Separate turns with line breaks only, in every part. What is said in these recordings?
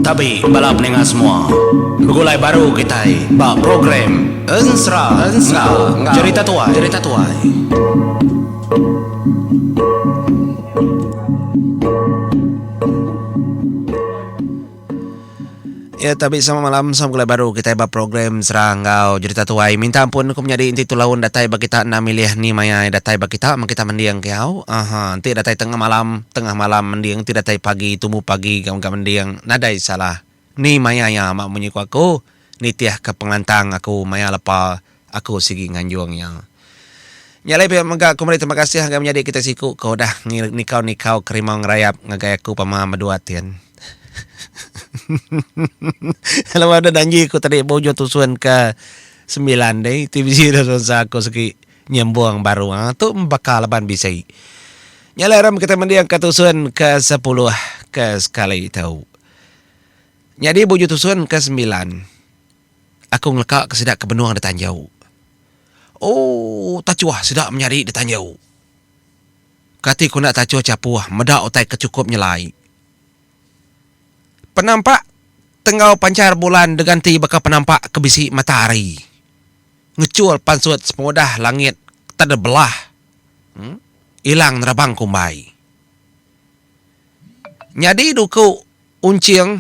Tabi bala peninga semua, begulai baru kitai ba program Ensera enggau Cherita Tuai. Ya tabi sama malam sama gulai baru kitai ba program Sera enggau Jurita Tuai. Minta ampun ku menyadi enti tu laun datai ba kita enda milih ni maya iya datai ba kita meh kita mending ke au. Aha enti datai tengah malam, tengah malam mending enti datai pagi tumu pagi ga mega mending nadai salah. Ni maya iya amat munyi ku aku nitihka pengelantang aku maya lepa. Aku sigi nganjung iya. Nya alai pia mega aku meri terima kasih ngagai menyadi kitai siku ke udah nikau-nikau ke rimau ngerayap ngagai aku pama medua tin. Laban udah danji aku tadi ba ujung tusun ke semilan ti, tvc udah sponsor aku sigi nyembung baru. Ha tu baka laban bisi. Nya alai rem kitai mendingka tusun ke sepuluh ke sekali tu. Nyadi ba ujung tusun ke semilan. Aku ngeleka ke sida ke benung da tanjau. Ooh tachuh sida menyadi da tanjau. Kati ku enda tachuh chapuh meda utai ke chukup nyelai. Penampak tenggau panchar bulan deganti baka penampak ke bisi matahari. Ngechul pansut sepengudah langit tade belah. Em ilang nerabang kumbai. Nyadi duku. Unching,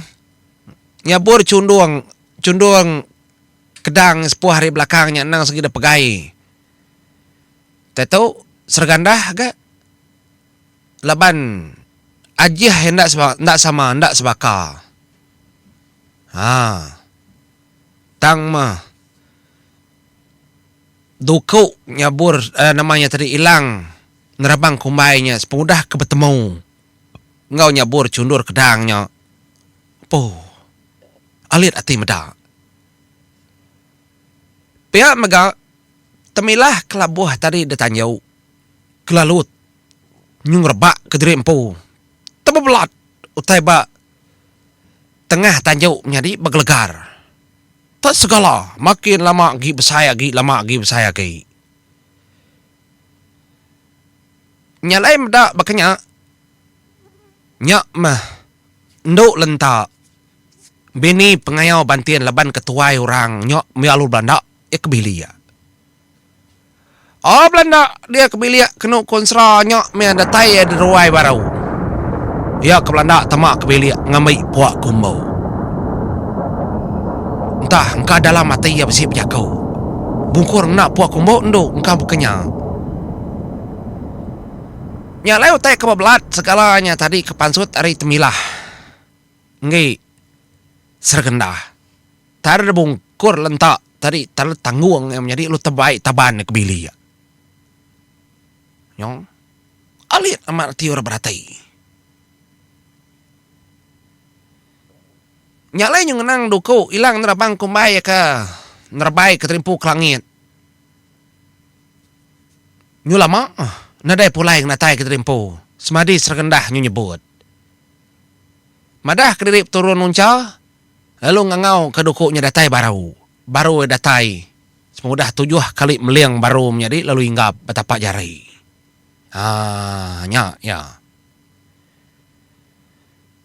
nyabur chundung chundung kedang sepuh ari belakang nya endang segeda pegai. Tatu Sergandah ga laban ajih iya enda enda sama enda sebaka. Haa tang meh duku nyabur nama iya tadi ilang nerabang kumbai nya sepengudah ke betemu. enggau nyabur chundur kedang nya. Empu. Alit ati meda. Pia mega, temilah kelabuh tadi ditanju, kelalut nyu ngerebak ke diri empu. Tebebelat utai ba tengah tanju nyadi begelegar. Tak segala, makin lama agi besai agi lama agi besai agi. Nya alai meda baka nya, nya meh endu lenta bini pengayau bantin laban ke tuai orang nya meh lalu belanda iya ke bilik. Au belanda dia ke bilik kenu konsra nya meh datai iya di ruai baru. Iya ke belanda tama ke bilik ngambi puak ke umbu. Entah engka dalam ati iya bisi bejaku. Bungkur ngena pua kumbu endu engka buka nya. Nya alai utai ke bebelat segala nya tadi ke pansut ari Temilah enggi Sergenda. Tanda Bungkur lenta tadi tanda tanggung iya menyadi lu tebai taban iya ke bili iya. Nyong alit amat reti orang berati. Nya alai nyu ngenang duku ilang nerabang kumbai aka nerebai ke terimpu ke langit. Nyu lama nadai pulai ngenatai ke terimpu semadi Seregendah nyu nyebut. Madah kediri peturun nuncha lalu ngangau ka duku nya datai baru. Baru iya datai sama udah tujuh kali meling baru menyadi lalu inggap betapa jari. Haa nya iya.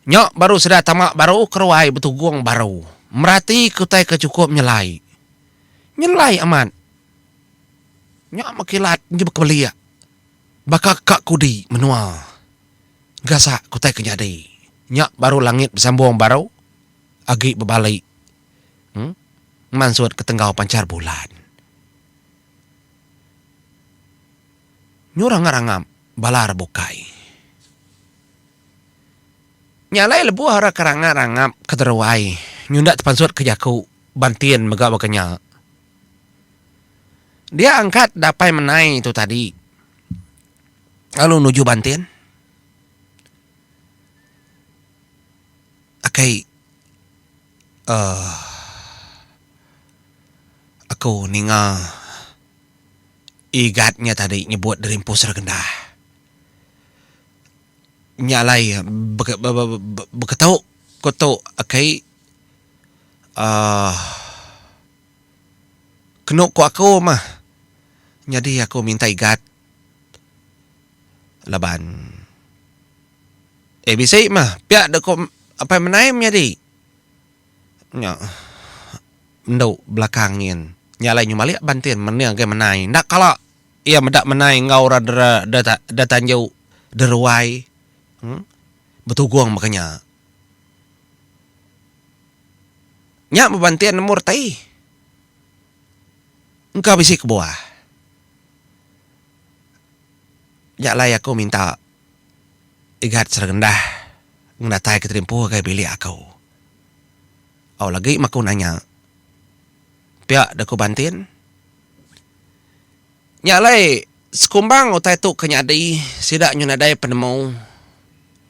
Nya baru sida tama baru keruai betugung baru. Merati ke utai ke chukup nyelai. Nyelai amat. Nya meh kilat enti bekebelik. Baka ka kudi menua. Gasak ke utai ke nyadi. Nya baru langit besambung baru agi bebalik uhh mansut ke tenggau panchar bulan. Nyurang ngerangap bala ra bukai. Nya alai lebuh ara keranga rangap ke deruai nyunda tepansut ke jaku bantin mega baka nya. Dia angkat dapai menai tu tadi lalu nuju bantin. Akai uhh aku ninga. Igat nya tadi nyebut Derimpus Regendah. Nya alai beketu ku tu aki uhh kenu ku aku mah nyadi aku minta igat laban ABC mah pia doku apai mendai menyadi. Nya endu belakang nyin. Nya alai nyu malik bantin mending agi menai. Enda kala iya meda menai enggau orang dera dera tanju dera ruai uhh betugong baka nya. Nya meh bantin nemu reti. Engka bisi kebuah. Nya alai aku minta igat serendah ngenatai ke terimpu ngagai bilik aku. Au lagi meh aku nanya. Pia deh ku bantin. Nya alai sekumbang utai tu ke nyadi sida nyau nadai penemu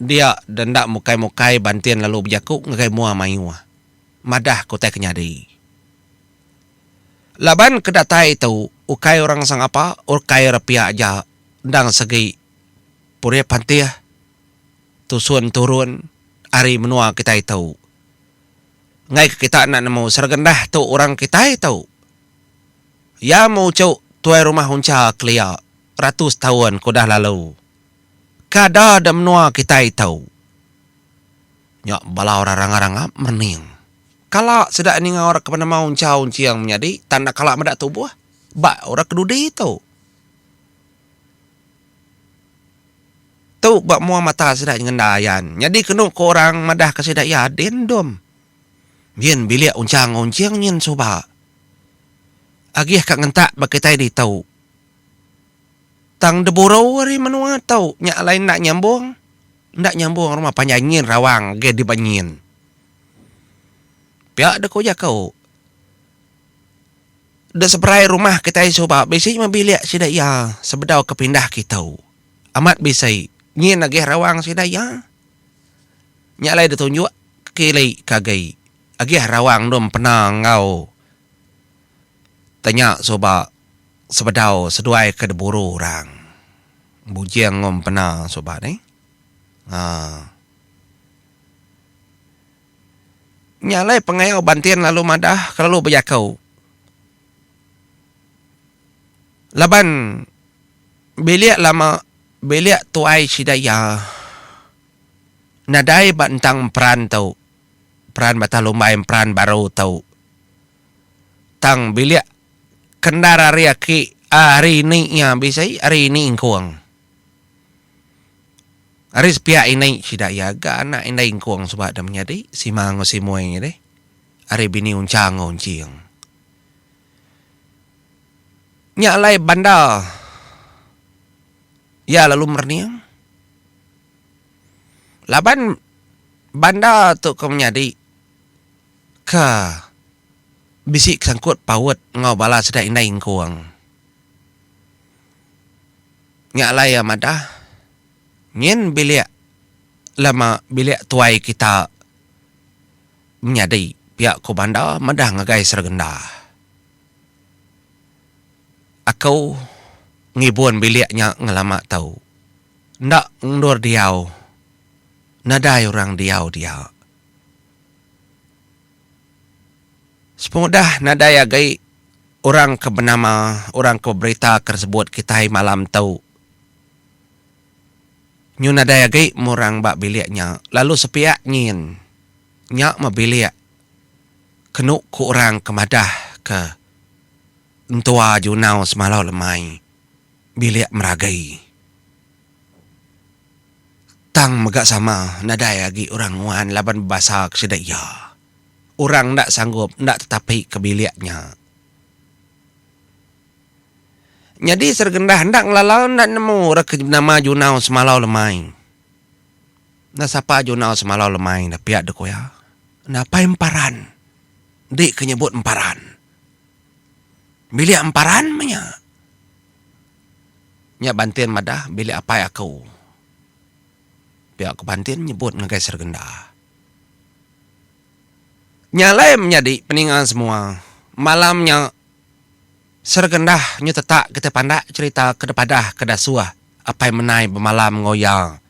dia deh enda mukai-mukai bantin lalu bejaku ngagai mua mayuh madah ke utai ke nyadi. Laban ke datai tu ukai orang sangapa ukai orang pia aja endang segi purip antih. tusun turun ari menua kitai tu. Enggaika kita enda nemu Sergendah tu orang kitai tu. Iya muchu tuai rumah uncha kelia ratus taun ke udah lalu. Kada da menua kitai tu. Nya bala orang rangap-rangap merening. Kala sida ninga orang ke penemu uncha unching menyadi tan enda kala meda tubuh ba orang ke dudi tu. Tu ba mua mata sida nyengenda ayan. Nyadi kenu ko orang madah ka sida iya adin endum. Nyin bilik unchang onching nyin suba. Agih ka ngentak ba kitai ditu. Tang deburu ari menua tu nya alai enda nyambung. Enda nyambung rumah panjai nyin rawang agih di ba nyin. Pia de ko jaku. De seberai rumah kitai suba bisi meh bilik sida iya sebedau ke pindah kitu. Amat bisai nyin agih rawang sida iya. Nya alai ditunjuk kili ke agi agih rawang endur empena enggau tanya suba sebedau seduai ke diburu orang. Bujing enggau empena suba nih. Haa. Nya alai pengayau bantin lalu madah ke lalu bejaku laban. Bilik lama bilik tuai sida iya nadai ba entang emperan tu peran batah lumbai emperan baru tu tang bilik kendar ari aki ari ini iya bisi ari ini ingkung ari sepiak ini sida iya ga anak indai ingkung suba da menyadi sima enggau simoi ari bini unchang enggau unching. Nya alai bandar iya lalu merening laban bandar tu ke menyadi ke bisi sangkut paut enggau bala sida indai engkung. Nya alai iya madah nyin bilik lama bilik tuai kita Menyadi, pia ku Banda meda ngagai sergenda. Aku ngibun bilik nya ngelama tu. Enda endur diau nadai orang diau dia. Sepengudah nadai agi orang ke benama, orang ke beberita ke disebut kitai malam tu. Nyu nadai agi murang ba bilik nya lalu sepiak nyin nya meh bilik kenu ku orang ke madah ke entua Junau semalau lemai bilik meragi. Tang mega sama nadai agi orang nguan laban bebasa ke sida iya. Orang enda sanggup enda tetapi ke bilik nya. Nyadi Sergendah enda ngelala enda nemu ra ke nama Junau Semalau Lemai. Enda sapa Junau Semalau Lemai dah pia dok iya. Enda apai emparan. Enti ke nyebut emparan. Bilik emparan meh nya. Nya Bantin madah bilik apai aku. Pia ko Bantin nyebut ngagai Sergenda. Nya alai menyadi peninga semua. Malam nya. Sergendah nyu tetak kitai pandak cerita ke dipadah ke dasuh apai menai bemalam enggau iya.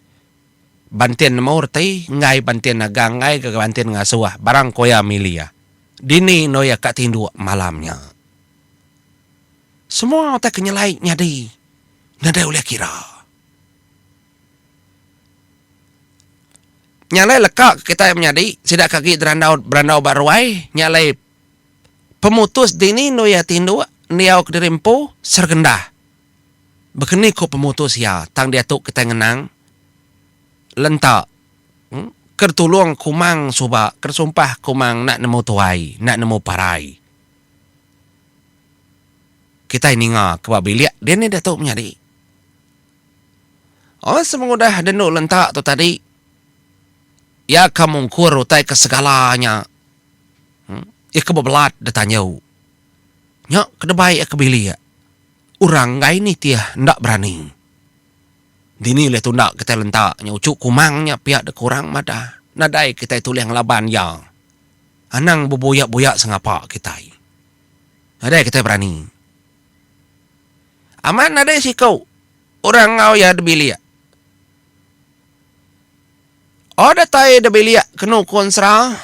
Bantin nemu reti enggai bantin nagang enggai ga bantin ngasuh barang ko iya mili iya. Dini endur iya ka tinduk malam nya. Semua utai ke nyelai nyadi nadai ulih kira. Nya alai leka kitai menyadi sida ke agi berandau berandau ba ruai nya alai Pemutus dini endur iya ti endur endiau kediri empu Sergenda. Bekeni ku pemutus iya tang diatu kitai ngenang lenta ke ditulung kumang suba ke disumpah kumang enda nemu tuai enda nemu parai. Kitai ninga ke ba bilik dini diatu menyadi. Oi semengudah deh endur lenta tu tadi iya ka mungkur utai ke segala nya Iya ke bebelat deh tanyu. Nya ke debai iya ke bilik. Orang enggai nitih enda berani. Dini ulih tunda kitai lenta nya uchu kumang nya pia deka orang madah. Nadai kitai tulih ngelaban iya. Anang bebuyak-buyak sengapa kitai. Nadai kitai berani. Amat nadai siku orang enggau iya di bilik. Oh datai da bilik kenu ku ensera.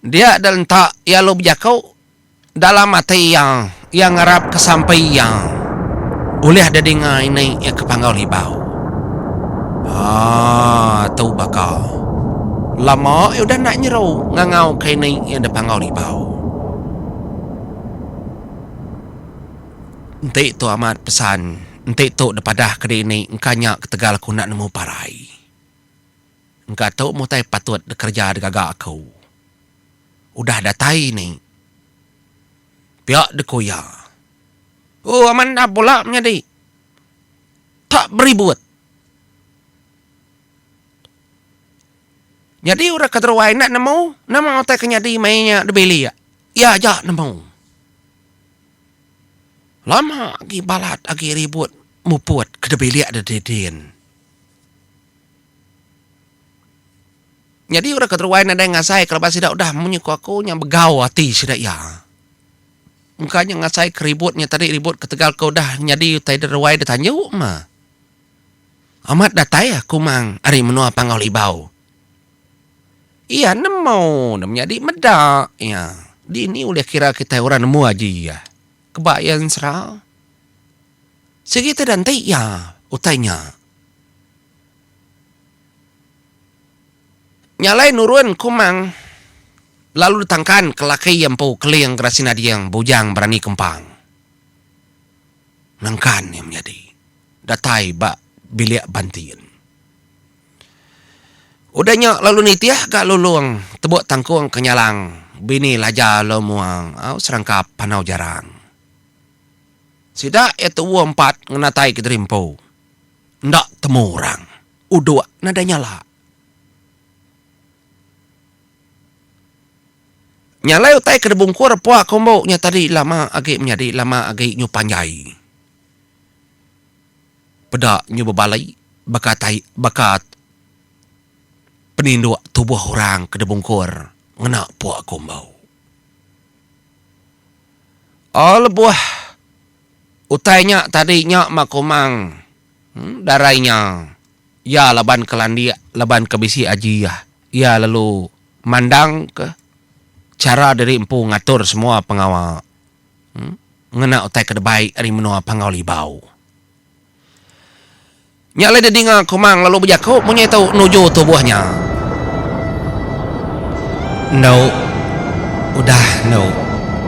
Dia da rentak iya lalu bejaku dalam ati iya, iya ngarap ke sampi iya ulih da dinga ini iya ke panggau ribau. Aaa tu baka lama iya udah enda nyeru ngangau ke ini iya da panggau ribau. Enti tu amat pesan. Enti tu dipadah ke dini engka nya ketegal aku enda nemu parai. Engka tu mutai patut dikereja digaga aku. Udah datai ni. Pia deku iya. Ooh amat enda pula menyadi. Tak beribut. Nyadi orang ke teruai enda nemu nama utai ke nyadi maya nya dibilik. Iya aja nemu. Lama agi balat agi ribut muput ke dibilik deh didin. Nyadi orang keteruai nadai ngasai ke laban sida udah munyi ku aku nya begau ati sida iya. Engka nya ngasai ke ribut nya tadi ribut ketegal ke udah nyadi utai deruai detanju mah. Amat datai aku mang ari menua Panggau Libau. Iya nemu ne menyadi meda iya. Dini ulih kira kitai orang nemu aji iya. Keba iya ensera. Sigi te da enti iya utai nya. Nya alai nurun ku mang lalu ditangkan ke laki iya empu Keling Gerasina Dieng Bujang Berani Kempang. Nengkan iya menyadi datai ba bilik bantin. Udah nya lalu nitih ga Lulong tebuk tangkung ke nyalang bini Laja Long Muang au serangkap Panau Jarang. Sida iya tuuh empat ngenatai Kediri Empu. Enda temu orang. Uduk nadai nyala. Nya alai utai ke dibungkur Epua ke Umbu nya tadi lama agi menyadi lama agi nyu panjai. Peda nyu bebali baka tai baka peninduk tubuh orang ke dibungkur ngena Epua ke Umbu. Oh lebuh utai nya tadi nya ma kumang darai nya iya laban ke landik laban ke bisi aji iya. Iya lalu mandangka chara diri empu ngatur semua pengawa ngena utai ke dibai ari menua Panggau Libau. Nya alai didinga Komang lalu bejaku munyi tu nuju tubuh nya. Endo udah endo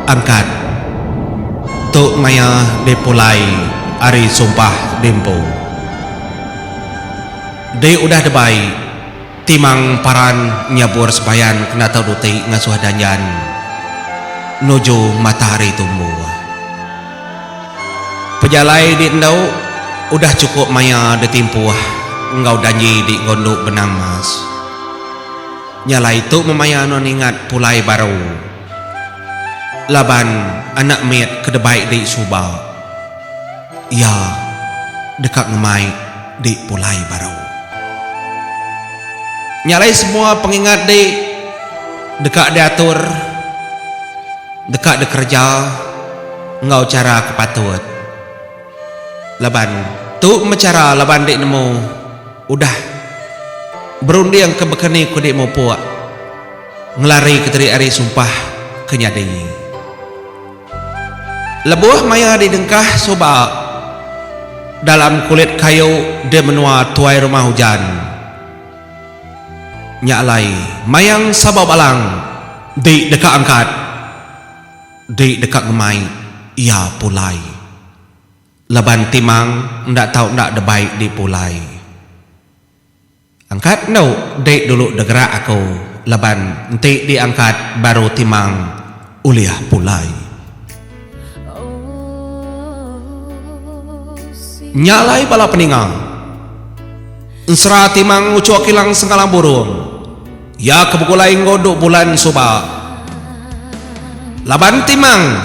angkat tu maya dipulai ari sumpah diempu. Di udah dibai. Timang paran nyabur sebayan kena tau duti ngasuh danjan nuju matahari tumbuh. Pejalai di endu udah chukup maya ditimpuh enggau danji di gondu benang mas. Nya alai tu memaya nuan ingat pulai baru laban anak mit ke debai di suba. Iya deka ngemai di pulai baru. Nya alai semua pengingat di deka diatur, deka dikereja enggau chara ke patut laban tu meh chara laban enti nemu udah berundingka baka ni ku di mupuk ngelarika diri ari sumpah ke nyadi. Lebuh maya didengkah suba dalam kulit kayu di menua tuai rumah ujan nya alai mayang Sabau Balang di deka angkat di deka ngemai iya pulai laban timang enda tau enda debai dipulai. Angkat endu dek dulu degerak aku laban enti di angkat baru timang ulih pulai. Nya alai bala peninga. Ensera timang ucho kilang sengkalang burung. Iya ke begulai enggau duk bulan suba. Laban timang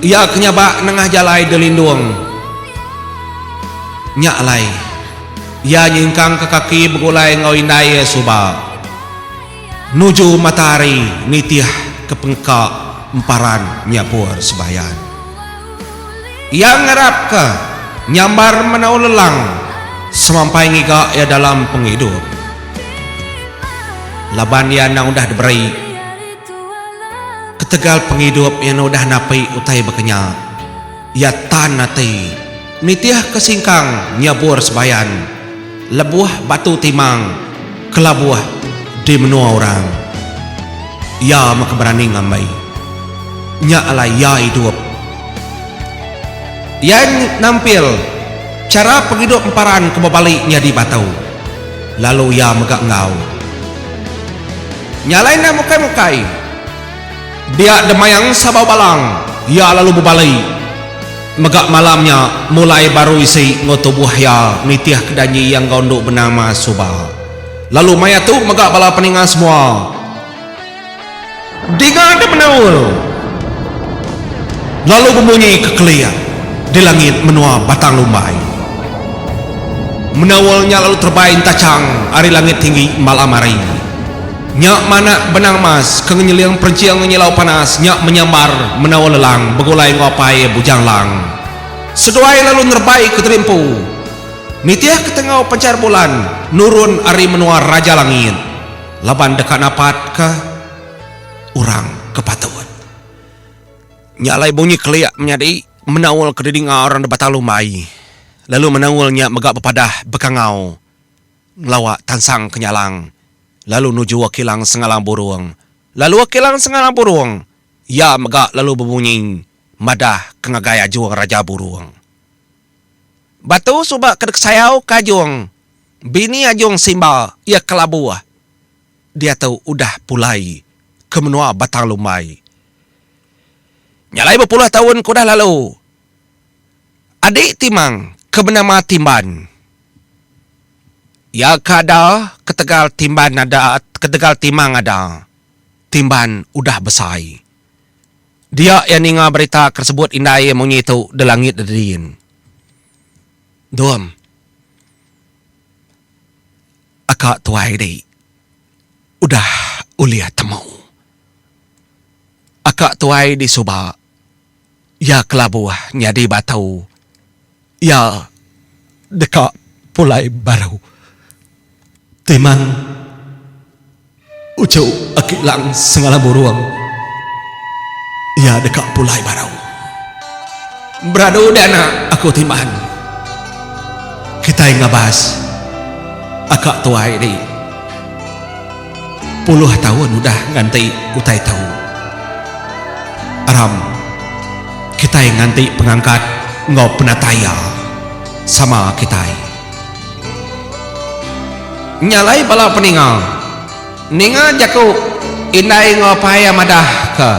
iya ke nyabak nengah jalai delindung nya alai, iya nyingkangka kaki begulai enggau indai iya suba nuju matahari nitih ke pengka emparan nyabur sebayan. Iya ngarapka nyambar menau lelang semampai ngiga iya dalam pengidup. Laban iya endang udah diberi ketegal pengidup iya enda udah napi utai bakanya, iya tan ati nitihka singkang nyabur sebayan lebuh batu timang kelabuh di menua orang. Iya mega berani ngambi nya alai iya idup. Iya nampil chara pengidup emparan ke bebali nyadi batu. Lalu iya mega enggau. Nya alai endang mukai-mukai. Dia Demayang Sabau Balang, iya lalu bebali. Mega malam nya, mulai baru isi enggau tubuh iya nitih ke janji iya enggau endu benama suba. Lalu maya tu mega bala peninga semua. Diga ke menaul lalu bemunyi kekelik di langit menua Batang Lumbai. Menaul nya lalu terebai entachang ari langit tinggi malam hari. Nya manak benang mas ke ngenyeling perenching nyilau panas nya menyambar menaul lelang begulai enggau apai Bujang Lang seduai lalu nerebai ke terimpu nitih ketenggau panchar bulan nurun ari menua Raja Langit. laban deka napatka orang ke patut. Nya alai bunyi kelik menyadi menaul ke didinga orang deba talu mai, lalu menaul nya mega bepadah bekangau ngelawa tansang ke nyalang lalu nuju Kilang Sengalang Burong. Lalu Kilang Sengalang Burong iya mega lalu bebunyi madah ke ngagai Ajung Raja Burong. Batu suba ke dikesayau ke Ajong bini Ajong Simba iya kelabuh diatu udah pulai ke menua Batang Lumbai. Nya alai bepuluh taun ke udah lalu, adi Timang ke benama Timban iya ke ada ketegal Timban ada ketegal Timang ada, Timban udah besai. Dia iya ninga berita ke sebut indai iya munyi tu de langit de din. Dom. Aka tuai di udah ulih temu. Aka tuai di suba. Iya kelabuh nyadi batu. Iya deka pulai baru. Timang uchu aki lang sengala burung iya deka pulai baru. Beradu deh anak aku Timang. Kitai ngabas aka tuai ri. Puluh taun udah nganti utai tau. Aram, kitai nganti pengangkat enggau penatai iya sama kitai. Nya alai bala peninga ninga jaku indai enggau apai iya madahka,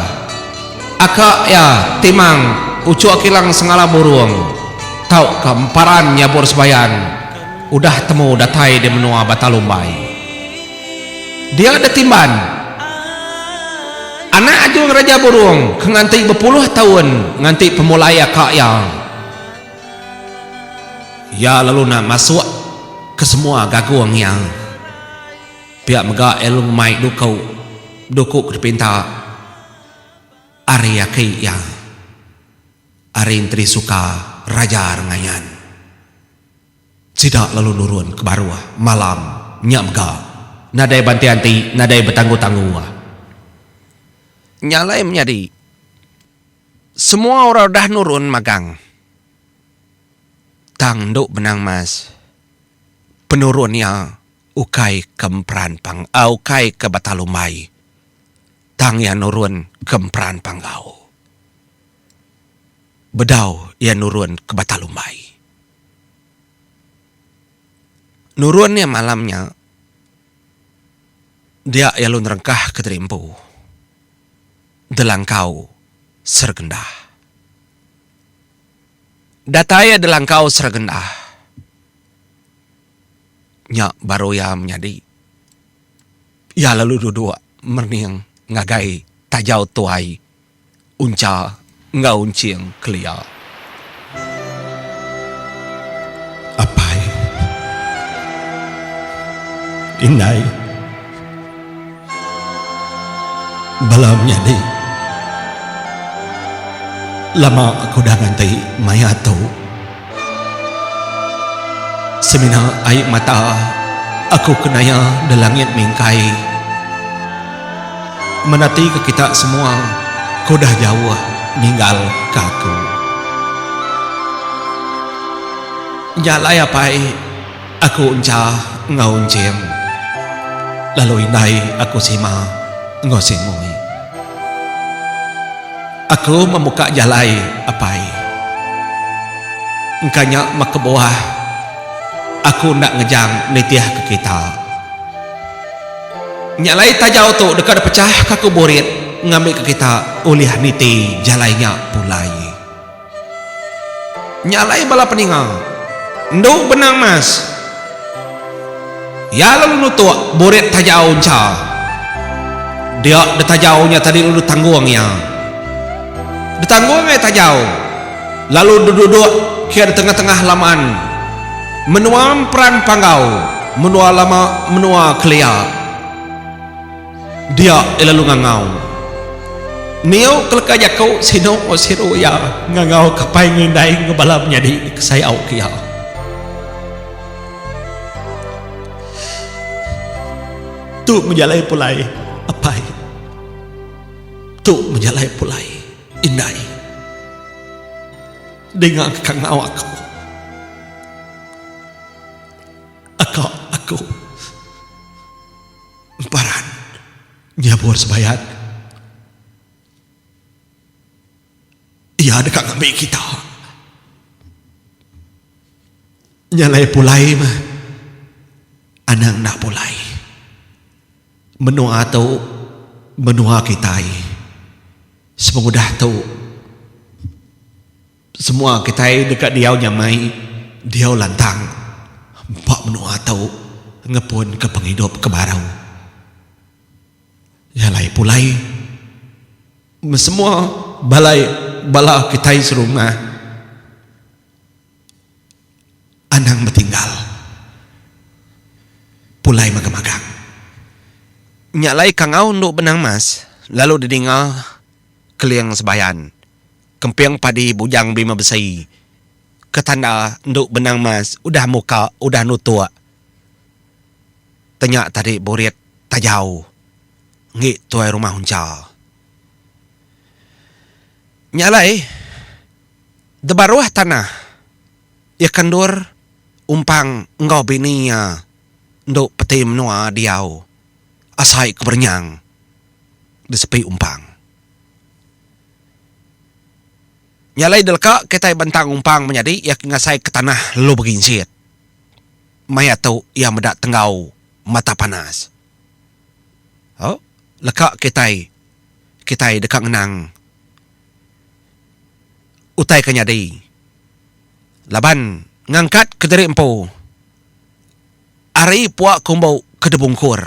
Aka iya Timang Ucho Kilang Sengala Burung tauka emparan nyabur sebayan udah temu datai di menua Batalumbai. Dia da Timban, anak ajung Raja Burung ke nganti bepuluh taun nganti pemulai aka iya. Iya lalu enda masuk ke semua gagung iya. Pia mega iya lalu ngemai duku, duku ke dipinta ari aki iya, ari Enteri Suka Raja Rengayan. Sida lalu nurun ke baruh malam nya mega nadai banti anti nadai betangguh-tangguh. Nya alai menyadi semua orang udah nurun magang tang endo benang mas penurun iya ukai ke emperan pang ukai ke bata lumbai tang iya nurun ke emperan panggau bedau iya nurun ke bata lumbai. Nurun iya malam nya dia iya lalu nerengkah ke diri empu Delangkau Seregendah. Datai iya Delangkau Seregendah nya baru iya menyadi. Iya lalu duduk merening ngagai tajau tuai Uncha enggau Unching kelia.
Apai. Indai. Bala menyadi. Lama aku udah nganti maya tu. Semina ai mata aku ke naya da langit mingkai menati ke kita semua ke udah jauh ninggal ka aku. Nya alai apai. Aku encha enggau enching lalu indai aku sima enggau singoi. Aku membuka jalai apai. Engka nya meh kebuah aku enda ngejang nitihka kita. Nya alai tajau tu deka dipechahka aku burit ngambika kita ulih niti jalai nya pulai. Nya alai bala peninga endu benang mas. Iya lalu nutuk burit tajau encha. Dia detajau nya tadi lalu ditanggung iya. Ditanggung ai tajau lalu deduduk ke detengah-tengah laman menua emperan panggau menua lama menua kelia. Dia iya lalu ngangau. Niu ke leka jaku sinu enggau siru iya ngangau ke pai ngindai enggau bala menyadi ke sayau ke iya. Tu mejalai pulai apai. Tu mejalai pulai indai. Dinga ke kangau aku. Aka aku. Emparan, nyabur sebayat. Iya deka ngambi kita. Nya alai pulai meh. Anang enda pulai. Menua tu menua kitai. Sepengudah tu. Semua kitai deka diau nyamai, diau lantang ba menua tu ngepunka pengidup ke baru. Nya alai pulai semua bala bala kitai serumah anang betinggal pulai magang-magang. Nya alai Kangau endu benang mas lalu didinga Keling Sebayan. Kemping padi bujang bima besi ke tanda endu benang mas udah muka udah nutuk tenya tadi burit tajau enggi tuai rumah uncha. Nya alai debaruh tanah iya ke endur umpang enggau bini iya endu peti menua diau asai ke berenyang di sepi umpang. Nya alai delka kitai bentang umpang menyadi iya ke ngasaika tanah lalu berinjit. Maya tu iya meda tenggau mata panas. Au, leka kitai kitai deka ngenang utai ke nyadi laban ngangkat kediri empu ari pua kumbu ke dibungkur.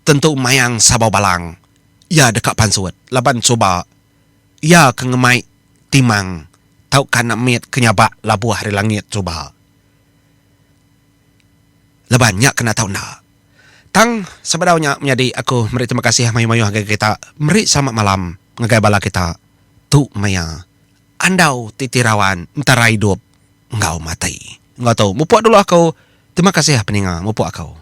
tentu mayang Sabau Balang iya deka pansut laban suba iya ke ngemai timang tauka enda mit ke nyabak labuh ari langit suba laban nya kena tau enda. Tang sebedau nya menyadi aku meri terima kasih mayuh-mayuh ngagai kita meri selamat malam ngagai bala kita tu maya andau ti tirawan entara idup. enggau mati enggau tu mupuk dulu aku terima kasih peninga mupuk aku.